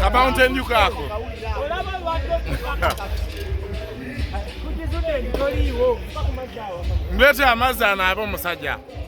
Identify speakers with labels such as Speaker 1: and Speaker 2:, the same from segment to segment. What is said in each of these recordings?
Speaker 1: Kabounty and Newcastle. Mlete amazi anaabe omusajja.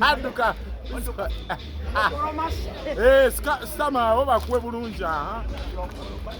Speaker 2: aduka
Speaker 1: eh, sitama obakuwe bulungi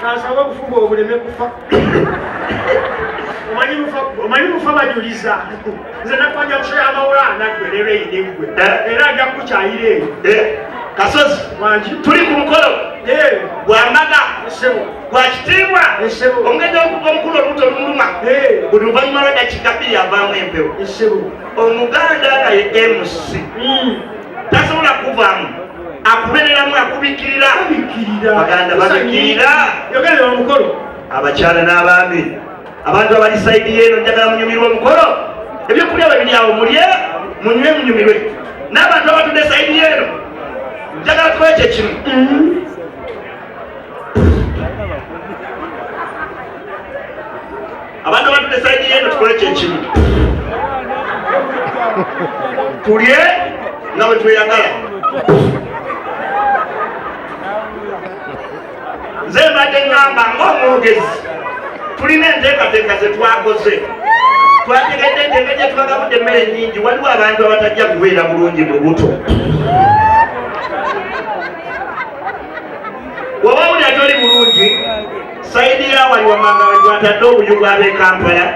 Speaker 3: kansaba obufuba obuleme kufa omanyi mufa bajuliza nze nakwanja kusaya amawula anagwerera eyinegwe eh? era ajja kukukyayira eyo eh? kasozi
Speaker 2: wangi tuli
Speaker 3: ku mukolo
Speaker 2: eh. gwamaga gwakitiibwa omugezi omukulu olubuto lumuluma buli luvanyuma lwedakika bbiri avaamu empewo omuganda naye mc hmm. tasobola kuvaamu akubereramu akubikirira baganda babikirira yogera omukolo
Speaker 3: abakyala
Speaker 2: n'abaami abantu abali saidi yeeno njagala munyumirwa omukolo ebyokulya bwe biri awo mulye munywe munyumirwe n'abantu abatudde saidi yeeno njagala tukoye kye kimu abantu abatudde saidi yeno tukole kyekimu tulye nga bwe tweyagala nze mbadde ngamba ngaomwogezi tulina enteekateeka zetwakoze twategedde nti engeri gyetubagabudde emmere nyingi waliwo abantu abatajja kubeera bulungi mu buto waba wuli atoli bulungi sayidi yawali wamanga wetwatadde obuyugu ab'e kampala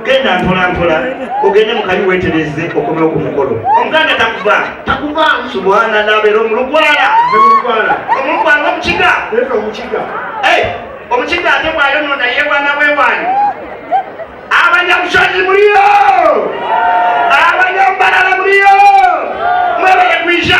Speaker 2: genda mpolampola ogende mukayi wetereze okomewo ku mukolo omuganda takuva takuva subhana nabeera omulugwala omulugwala omulugwala omukiga omukiga eh, omukiga ate bwayono naye bwana bwewani abanyamusozi muliyo abanyambalala muliyo mwebale kwija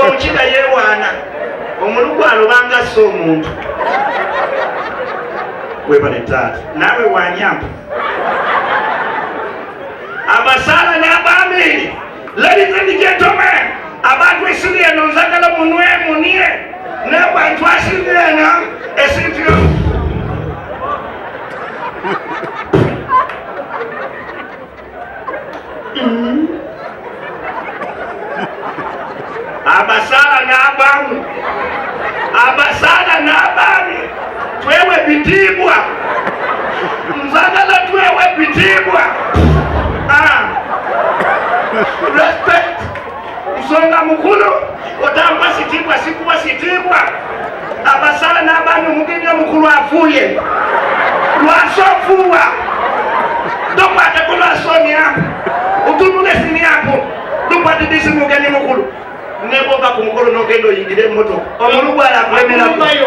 Speaker 2: omukiga yewaana omulugu alobanga sse omuntu webale taata naawe wanyamba abasaala n'abaamiiri ladies and gentlemen abantu esiri eno nzagala munwe munie n'abantu asiri eno esinti abasaala n'abaamu abasaala n'abaami twewe ebitiibwa nzagala twewe ebitiibwa ah. respect Nsonga mukulu otampa kitiibwa sikuwa kitiibwa abasala n'abaana omugenyi omukulu afuuye lwasa ofuuwa tokwateko lwasa omyambu otunula esimyambu tukwatidisi mugenyi mukulu nebwoba ku mukulu nogenda oyingire emotoka omulugwala akulemerayo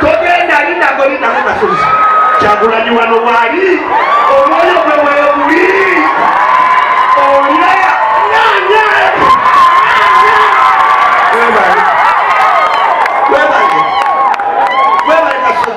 Speaker 2: togenda lindako lindako kasozi kyagulanyi wano waali omwoyo gwe weguli olya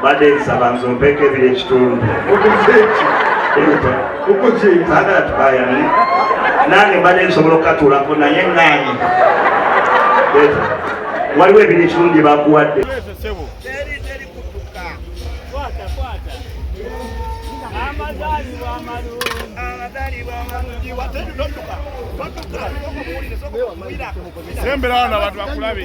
Speaker 2: mbadde nsaba nze ompeeko ebiri ekitundu bagala tubayane nange mbadde nsobola okukatuulako naye ŋŋaanyi waliwo ebiri ekitundu gye bakuwadde sembera
Speaker 1: wano abantu bakulabe